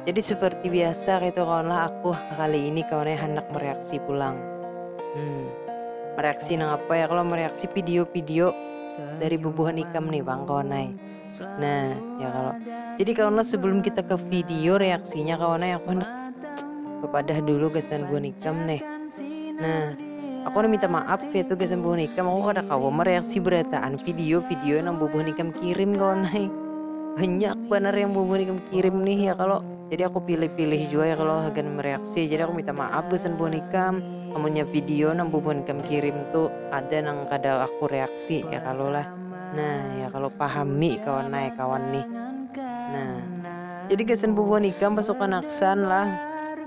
Jadi seperti biasa gitu kawanlah aku kali ini kawannya handak mereaksi pulang. Hmm, mereaksi nang apa ya kalau mereaksi video-video dari bubuhan ikam nih bang kawanai. Nah ya kalau jadi kawanlah sebelum kita ke video reaksinya kawanai aku handak kepadah dulu kesan buhan ikam nih. Nah Aku handak minta maaf ya tu gasan buhan ikam aku kada kawa mereaksi berataan video video nang bubuhan ikam kirim kawan ai. Banyak banar yang bubuhan ikam kirim nih ya kalo. Jadi aku pilih-pilih jua ya kalo hagan mereaksi. Jadi aku minta maaf gasan buhan ikam amunnya video nang bubuhan ikam kirim tu ada nang kada aku reaksi ya kalo lah. Nah ya kalo pahami kawan ai kawan nih. Nah. Jadi gasan bubuhan ikam pasukan aksan lah.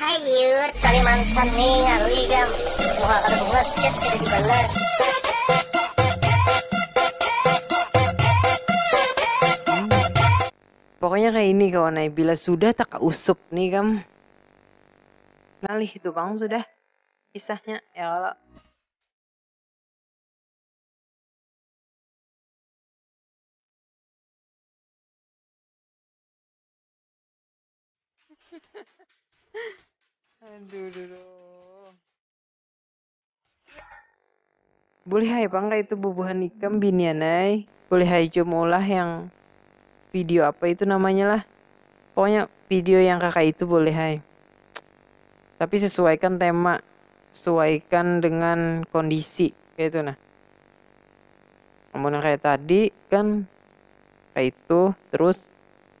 Hayuutt kalimantan ni ngalui ikam muha kada puas chat kada dibalas. Pokoknya kaya ini kawan ai bila sudah takausup ni ikam ngalih itu pang sudah kisahnya ya kalo. aduh duh, duh. boleh hai bangga itu bubuhan ikam binian hai boleh hai jo maulah yang video apa itu namanya lah pokoknya video yang kakak itu boleh hai tapi sesuaikan tema sesuaikan dengan kondisi kayak itu nah namun kayak tadi kan kayak itu terus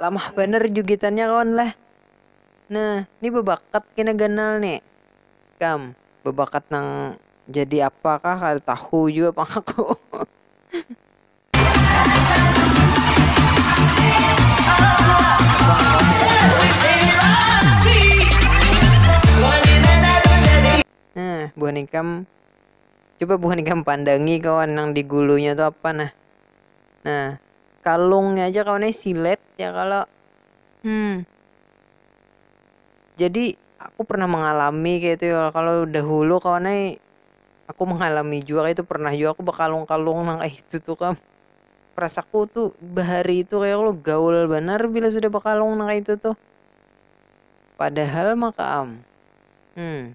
Lamah banar jugitannya kawan lah. Nah, ni babakat kena ganal ni. Ikam, babakat nang jadi apa kah kada tahu jua pang aku. Nah, buhan ikam coba buhan ikam pandangi kawan nang di gulunya tu apa nah. Nah, kalungnya aja kawan ai silet ya kalo hmm jadi aku pernah mengalami kaitu ya kalo dahulu kawan ai aku mengalami jua kaitu pernah jua aku bakalung-kalung nang kaitu tu kam rasaku tu bahari tu kaya kalo gaul banar bila sudah bakalung nang kaitu tuh padahal maka am hmm.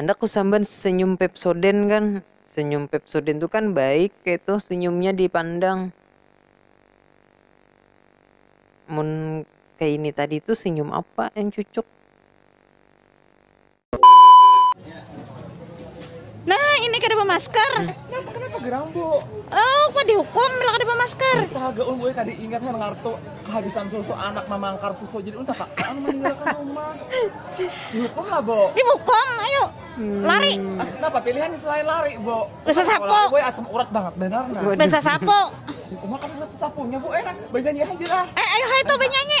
Handak kusambat senyum Pepsodent kan, senyum Pepsodent tu kan baik kaytu senyumnya dipandang. Mun kaya ini tadi tu senyum apa yang cucuk. Nah, ini kada bamasker. Kenapa kenapa gerang, Bu? Oh, kok dihukum bila kada bamasker? Astaga, ulun gue kada ingat han ngartu kehabisan susu anak mamangkar susu jadi ulun terpaksa anu meninggalkan rumah. Dihukum lah, Bu. Dihukum, ayo. Hmm. Lari. Ah, kenapa pilihan selain lari, Bu? Besa sapo. Lari, gue asam urat banget benar nah. Besa sapo. Rumah kan besa sapunya, Bu. Enak, eh, banyanyi aja lah. Eh, ayo hai tuh banyanyi.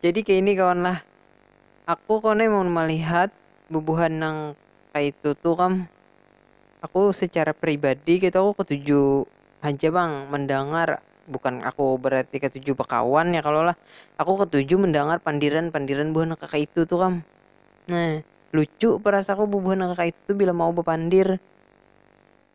Jadi kaini kawan lah, aku kawan ai mun malihat bubuhan nang kaitu tu kam, aku secara pribadi kaitu aku katuju haja pang mandangar, bukan aku berarti katuju bakawan ya kalo lah, aku katuju mandangar pandiran-pandiran buhan nang kakaitu tu kam, nah lucu perasaku bubuhan nang kakaitu tu bila mau bapandir.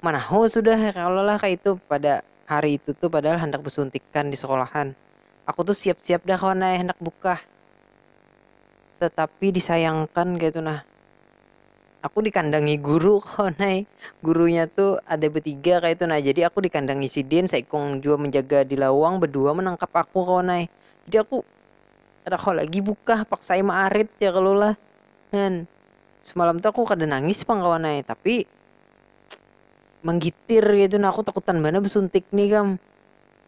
manahu sudah ya kalo lah kaitu pada hari itu tu padahal handak besuntikan di sekolahan aku tu siap siap dah kawan ai handak bukah tetapi disayangkan kaitu nah aku dikandangi guru kawan ai gurunya tu ada betiga kaitu nah jadi aku dikandangi sidin saikung jua menjaga di lawang bedua menangkap aku kawan ai jadi aku kada kawa lagi bukah paksai maarit ya kalo lah semalam tu aku kada nangis pang kawan ai tapi. manggitir kaitu nah aku takutan banar basuntik nih kam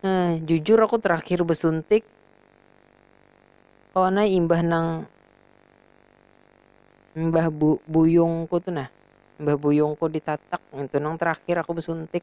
nah jujur aku terakhir basuntik kawan ai imbah nang imbah bu buyungku tu nah imbah buyungku ditatak ngitu nang terakhir aku basuntik.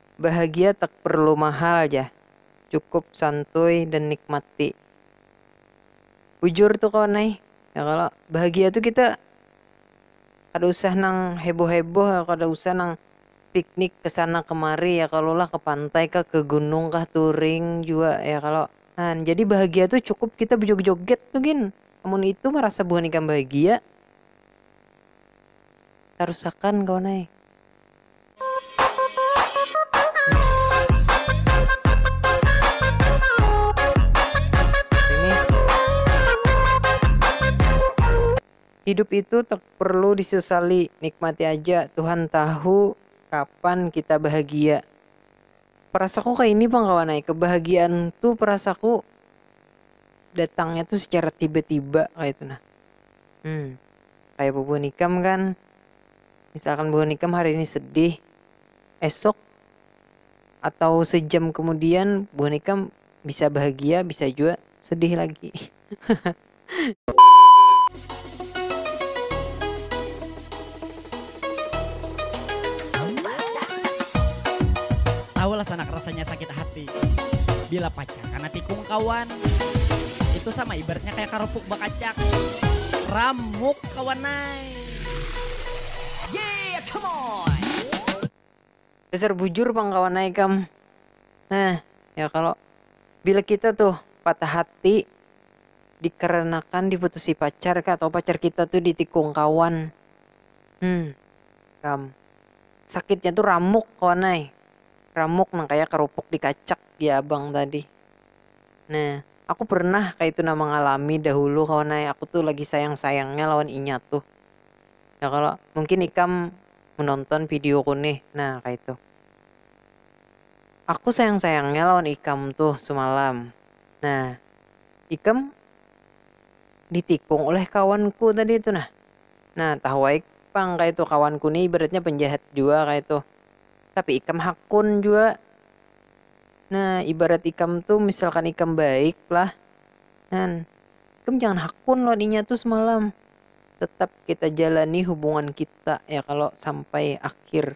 Bahagia takprlu mahal jah, cukup santuy dan nikmati. Bujur tu kawan ai, ya kalo? Bahagia tu kita kada usah nang heboh-heboh, kada usah nang piknik kesana kemari ya kalo lah, ke pantai kah, ke gunung kah, touring jua ya kalo? Nah, jadi bahagia tu cukup kita bejoget-joget tu gin, amun itu marasa buhan ikam bahagia. Tarusakan kawan ai. Hidup itu tak perlu disesali, nikmati aja, Tuhan tahu kapan kita bahagia. Perasaku kaini pang kawan ai, kebahagiaan tu perasaku datangnya tu secara tiba-tiba kaitu nah. Hmmm, kaya bubuhan ikam kan, misalkan buhan ikam hari ini sedih esok atau sejam kemudian buhan ikam bisa bahagia bisa jua sedih lagi tahulah sanak rasanya sakit hati bila pacar kana tikung kawan itu sama ibaratnya kaya karupuk bakacak ramuk kawan ai. Dasar bujur pang kawan ai ikam. Nah, ya kalo. Bila kita tuh patah hati dikarenakan diputusi pacar kah atau pacar kita tuh ditikung kawan. Hum. Ikam. Sakitnya tuh ramuk kawan ai. Ramuk nang kaya karupuk dikacak jar abang tadi. Nah, aku pernah kaitu nah mangalami dahulu kawan ai, aku tu lagi sayang-sayangnya lawan inya tuh. Ya kalo, mungkin ikam menonton videoku nih, nah kaitu. Aku sayang-sayangnya lawan ikam tuh semalam. Nah, ikam ditikung oleh kawanku tadi tu nah. Nah, tahu ai pang kaitu kawanku nih ibaratnya penjahat jua kaitu. Tapi ikam hakun jua. Nah, ibarat ikam tuh misalkan ikam baik lah. Nah, ikam jangan hakun lawan inya tuh semalam. Tetap kita jalani hubungan kita ya kalau sampai akhir.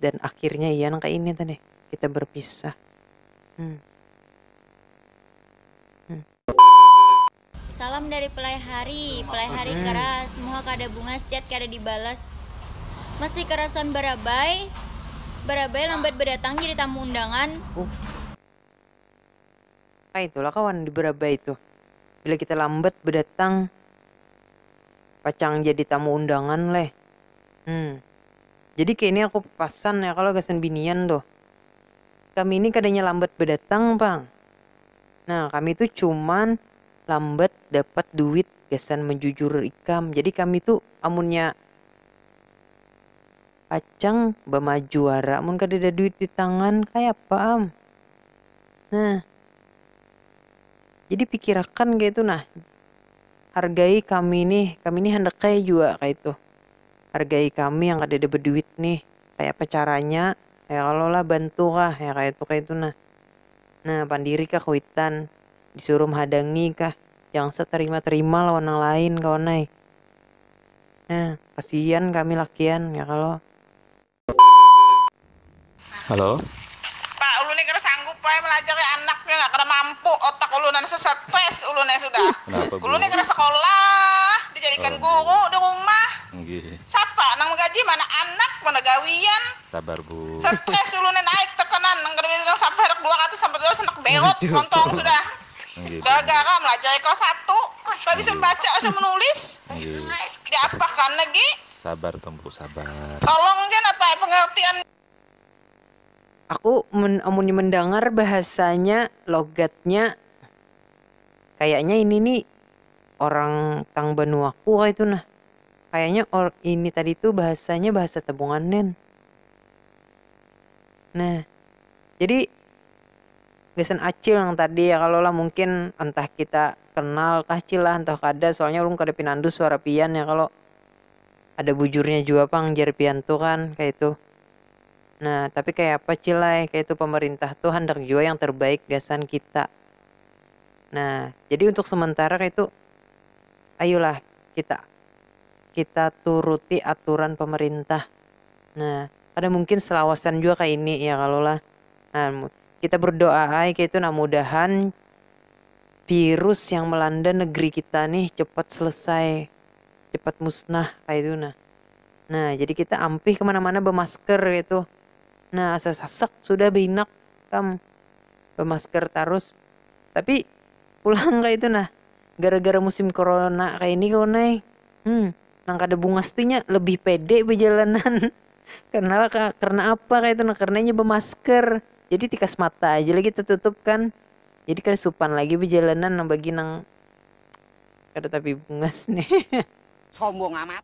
Dan akhirnya iya nang kayak ini tadi, kita berpisah. Hmm. Hmm. Salam dari Pelai Hari, Pelai Hari keras, muha kada bungas, chat kada dibalas, masih kerasan barabai, barabai lambat badatang jadi tamu undangan. Kaitu lah kawan di barabai tuh, bila kita lambat badatang pacang jadi tamu undangan leh. Hum. Jadi kaya ini aku pasan ya kalo gasan binian tuh, kami ini kadanya lambat badatang pang, Nah kami tu cuman lambat dapat duit gasan menjujur ikam jadi kami tu amunnya pacang bamaju wara mun kadada duit di tangan kayapa am nah jadi pikirakan kaitu nah hargai kami nih kami nih handak kaya jua kaitu hargai kami yang kadada beduit nih kayapa caranya kaya kalo lah bantu kah kaya kaitu kaitu nah. Nah pandiri ka kuitan, disuruh mhadangi kah, jangan sa terima terima lawan nang lain kawan ai, nah kasian kami lakian ya kalo. Halo. Pak ulun ni kada sanggup ai malajari anak ni nah kada mampu otak ulun anu stress ulun ai sudah ulun ni kada sekolah dijadikan guru di rumah sapa nang magaji mana anak mana gawian. sabar bu. Stress ulunnya naik tekanan nang kada bisa nang sabar handak dua ratus sampai tiga ratus handak belot montong sudah gara gara melajari kelas satu kada bisa membaca kada bisa menulis diapa kan lagi sabar tong bu sabar tolong ja napa ai pengertian Aku mun amunnya mendangar bahasanya logatnya kayaknya ini ni orang tang banuaku kaitu nah. Kayaknya or ini tadi tuh bahasanya bahasa tabungan nen. Nah jadi gasan acil nang tadi ya kalo lah mungkin entah kita kenal kah cil lah entah kada soalnya ulun kada pinandu suara pian ya kalo. Ada bujurnya jua pang jar pian tuh kan kaitu. Nah tapi kayapa cil ai kaitu pamarintah tuh handak jua yang terbaik gasan kita. Nah jadi untuk sementara kaitu Ayulah kita kita turuti aturan pemerintah. Nah, kada mungkin selawasan jua ka ini ya kalu lah. Nah, kita berdoa ai kaitu nah mudahan virus yang melanda negeri kita nih cepat selesai, cepat musnah kaitu nah. Nah, jadi kita ampih ke mana-mana bemasker kaitu. Nah, asa sasak sudah bainak kam bemasker tarus. Tapi pulang kaitu nah. Gara-gara musim korona kaya ini kawan ai, hmm, nang kada bungas tu inya lebih pede bajalanan. Karna apa? Karna apa kaya itu nah? Karna inya bamasker, jadi tikas mata aja lagi tatutup kan. Jadi kada supan lagi bajalanan nang bagi nang kada tapi bungas nih. Sombong amat.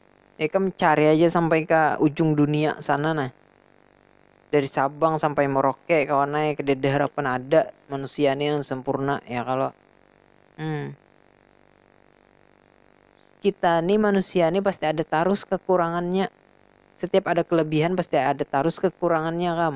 ikam cari aja sampai ka ujung dunia sana nah, dari Sabang sampai Merauke kawan ai kadada harapan ada manusia ni nang sampurna ya kalo, hmm kita ni manusia ni pasti ada tarus kakurangannya, satiap ada kalabihan pasti ada tarus kakurangannya kam.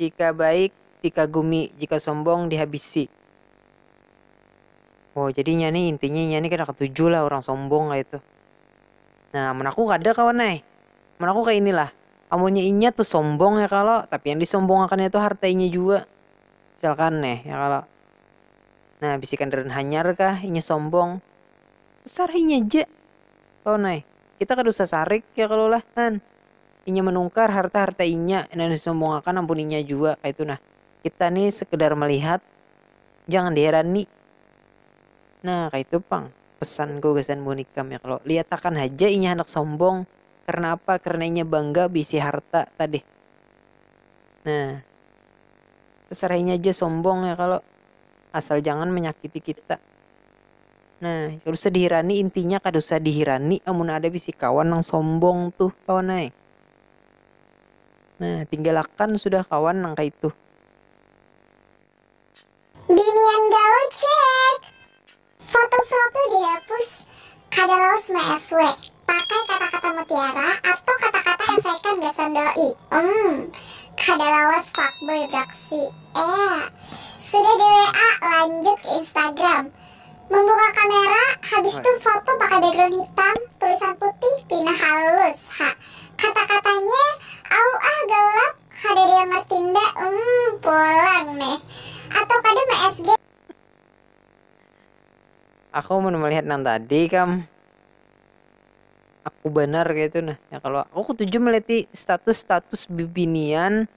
Jika baik dikagumi, jika sombong dihabisi. Oh jadi inya nih intinya inya nih kada katuju lah urang sombong kaitu. Nah amun aku kada kawan ai, amun aku kaya ini lah, amunnya inya tuh sombong ya kalo, tapi yang disombongakannya tuh harta inya jua, misalkan nih ya kalo. Nah bisi kandaraan hanyar kah inya sombong, terserah inya ja kawan ai, kita kada usah sarik ya kalo lah han. Inya manungkar harta-harta inya nang disombongakan ampun inya jua kaitu nah. Kita ni sekedar melihat, jangan diherani. Nah, kaitu pang pesanku gasan buhan ikam ya kalo. Lihatakan haja inya handak sombong, karena apa? Karena inya bangga beisi harta tadih. Nah, tasarah inya ja sombong ya kalo, asal jangan manyakiti kita. Nah, kada usah dihirani intinya kada usah dihirani amun ada bisi kawan nang sombong tuh kawan ai. Nah, tinggal akan sudah kawan nang kaitu. Binian gaul ceekk. Foto profil dihapus, kada lawas ma-SW. Pakai kata-kata mutiara atau kata-kata efekan gasan doi. Umm. Kada lawas fuckboy braksi. Ea. Sudah di WA, lanjut ke Instagram. Membuka kamera, habis tu foto pakai background hitam, tulisan putih, pina halus. Ha. Kata-katanya, Auuah gelap, kadada yang ngerti nda, umm. Pulang neh. Atau kada me-SG. Aku mun melihat nang tadi kam. aku banar kayatu nah ya kalo aku ketuju meleti status status bibinian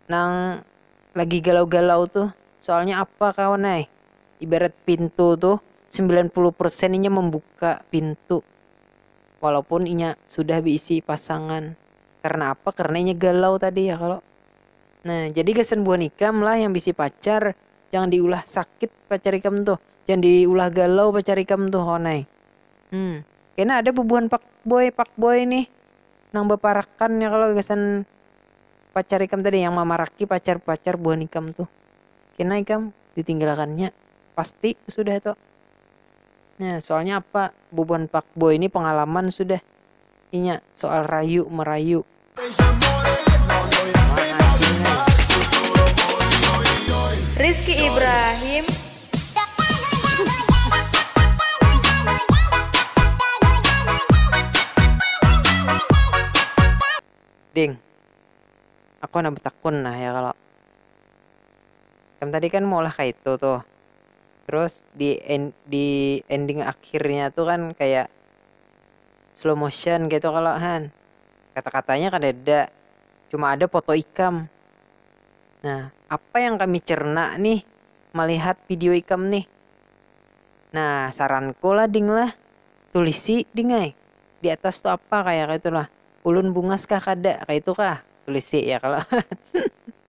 nang lagi galau galau tuh soalnya apa kawan ai ibarat pintu tuh sembilan puluh persen inya membuka pintu walaupun inya sudah beisi pasangan karena apa karena inya galau tadi ya kalo nah jadi gasan buhan ikam lah yang bisi pacar. Jangan di ulah sakit pacar ikam tuh, jangan di ulah galau pacar ikam tuh wan ai. Hum. Kena ada bubuhan pakboy pakboy nih nang baparakan ya kalo gasan pacar ikam tadi yang mamaraki pacar pacar buhan ikam tuh. Kena ikam di tinggalakan nya pasti sudah tuh. Nah soalnya apa bubuhan pakboy nih pangalaman sudah. inya soal rayu merayu. Rizky Ibrahim. Ding. Aku handak betakun nah ya kalo. Ikam tadi kan maulah kaitu tuh. Terus di di ending akhirnya tuh kan kayak. slow motion kaitu kalo han, kata-katanya kadada, cuma ada foto ikam. Nah, apa yang kami cerna nih malihat video ikam nih. Nah, saranku lah ding lah, tulisi ding ai, di atas tu apa kaya kaitu lah, ulun bungas kah kada kaitu kah, tulisi ya kalo.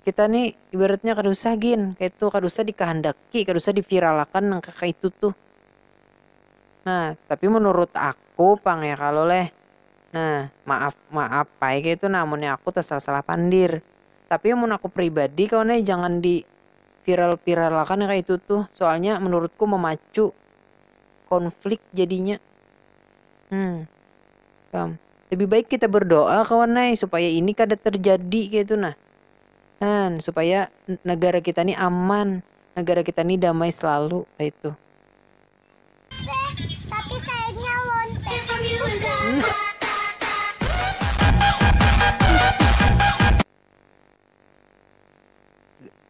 Kita ni ibaratnya kada usah gin kaitu kada usah dikahandaki kada usah diviralakan nang kaya kaitu tuh nah tapi menurut aku pang ya kalo leh nah maaf maaf ai kaitu nah amunnya aku tasalah salah pandir tapi amun aku pribadi kawan ai jangan di viral viralakan nang kaitu tuh soalnya menurutku memacu konflik jadinya hmm. Lebih baik kita berdoa kawan ai supaya ini kada terjadi kaya itu nah. Nah, supaya negara kita ni aman, negara kita ni damai selalu kaya itu.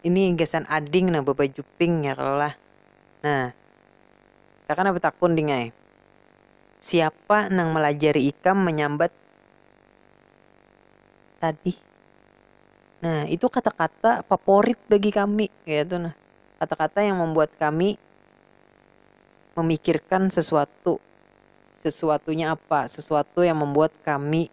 ini gasan ading nah babaju pink nya kalo lah nah kakana batakun ding ai siapa nang malajari ikam manyambat tadi nah itu kata-kata faporit bagi kami kaitu nah kata-kata yang mambuat kami mamikirkan sesuatu sesuatunya apa sesuatu yang mambuat kami.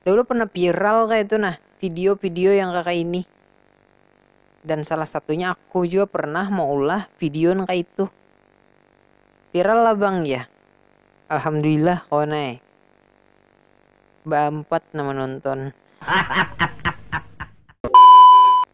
Dahulu pernah viral kaya itu nah video-video yang kaya ini. Dan salah satunya aku jua pernah maulah video nang kaya itu. Viral lah bang jar. Alhamdulillah kawan ai. Baampat nang manonton.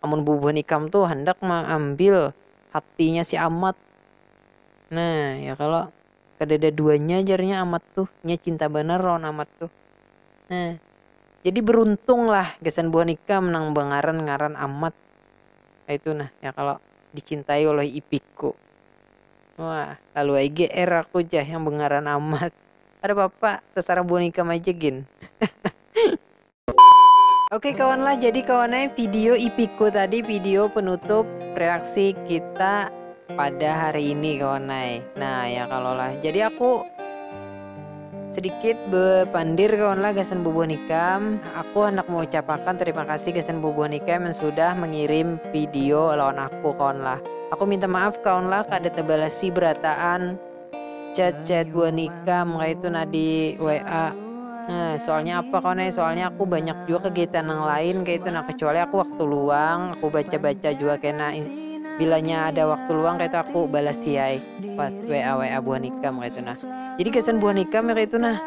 amun bubuhan ikam tu handak maambil hatinya si Amat. Nah, ya kalo? Kadada duanya jarnya Amat tu, inya cinta banar lawan Amat tu. Nah, jadi beruntunglah gasan buhan ikam nang bangaran-ngaran Amat kaytu nah, ya kalo? Dicintai oleh ipiku. Wah, lalu ai GR aku jar yang bangaran Amat. Kadapapa, tasarah buhan ikam aja gin. Oke kawan lah, jadi kawan eh, video ipiku tadi video penutup reaksi kita pada hari ini kawan eh. Nah ya kalau lah, jadi aku sedikit berpandir kawan lah gasan bubuh nikam. Aku hendak mengucapkan terima kasih gasan bubuh nikam yang sudah mengirim video lawan aku kawan lah. Aku minta maaf kawan lah kada terbalasi berataan Chat chat buah nikah maka itu nah di WA Heh soalnya apa kawan ai soalnya aku banyak jua kegiatan nang lain kaitu nah kecuali aku waktu luang aku baca baca jua kena bilanya ada waktu luang kaitu aku balasi ai pas WA WA buah nikah maka itu nah jadi gasan buah nikah maka itu nah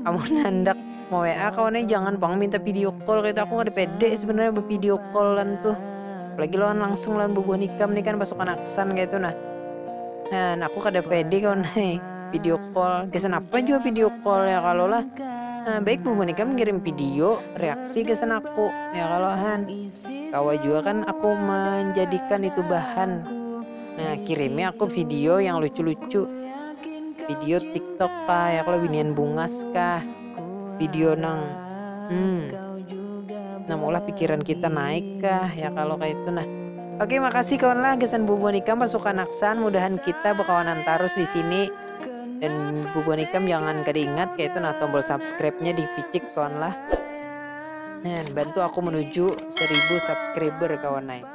amun handak Mau WA kawan ai jangan pang minta video call kaytu aku kada pede sebenarnya bevideo call lan tuh apalagi lawan langsung lawan bubuhan ikam nih kan pasukan aksan kaytu nah dan aku kada pede kawan ai video call gasan apa jua video call ya kalo lah nah, baik bubuhan ikam ngirim video reaksi gasan aku ya kalo han kawa jua kan aku menjadikan itu bahan Nah, kirimi aku video yang lucu-lucu. Video TikTok kah, ya kalau binian bungas kah. Video nang hmm, nang ulah pikiran kita naik kah, ya kalau kayak itu nah. Oke, makasih kawan lah gesan bubuan ikam pasukan aksan. Mudahan kita berkawanan terus di sini. Dan bubuan ikam jangan kada ingat kayak itu nah tombol subscribe-nya di picik kawan lah. Nah, bantu aku menuju 1000 subscriber kawan naik.